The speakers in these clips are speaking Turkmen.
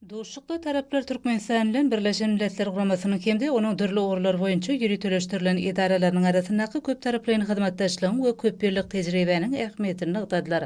Duşuşykda taraplar Türkmenistan bilen Birleşen Milletler Guramasynyň hem-de onuň dürli ugurlar boýunça ýöriteleşdirilen edaralarynyň arasyndaky köptaraplaýyn hyzmatdaşlygyň we köp ýyllyk tejribäniň ähmiýetini nygtadylar.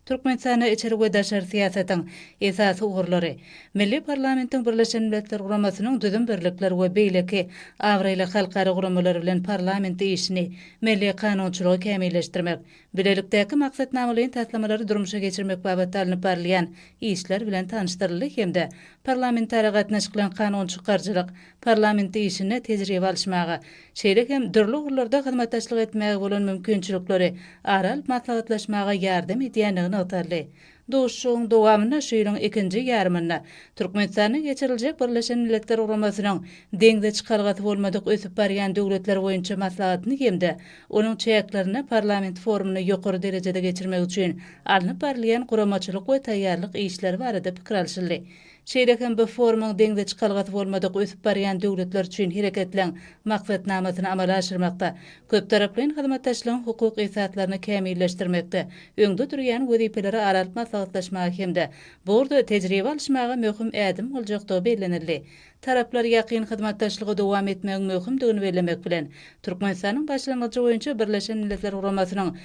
Türkmenistanda içeri we daşary syýasatyň esasy ugurlary, milli parlamentiň Birleşen Milletler Guramasynyň düzüm birlikler we beýleki abraýly halkara guramalar bilen parlament işini, milli kanunçylygy kämilleşdirmek, bilelikdäki maksatnamalaýyn taslamalary durmuşa geçirmek babatda alnyp barylýan işler bilen tanyşdyryldy hem-de parlamentara gatnaşyklan kanun çykaryjylyk, parlament işinde tejribe alyşmaga, şeýle hem dürli ugurlarda hyzmatdaşlyk etmäge bolan mümkinçilikleri ara alyp maslahatlaşmaga ýardam edýändigi nygtaldy. Duşuşygyň dowamynda şu ýylyň ikinji ýarymynda Türkmenistanda geçiriljek Birleşen Milletler Guramasynyň Deňze çykalgasy bolmadyk ösüp barýan döwletler boýunça maslahatyny hem-de onuň çäklerinde parlament forumyny ýokary derejede geçirmek üçin alnyp barylýan guramaçylyk we taýýarlyk işleri barada pikir alşyldy. Şeýle hem bu forumyň deňze çykalgasy bolmadyk ösüp barýan döwletler üçin Hereketleň maksatnamasyny amala aşyrmakda, köptaraplaýyn hyzmatdaşlygyň hukuk esaslaryny kämilleşdirmekde öňde durýan wezipeleri ara alyp maslahatlaşmaga hem-de bu ugurda tejribe alyşmaga möhüm ädim boljakdygy bellenildi. Taraplar ýakyn hyzmatdaşlygy dowam etmegiň möhümdigini bellemek bilen, Türkmenistanyň başlangyjy boýunça Birleşen Milletler Guramasynyň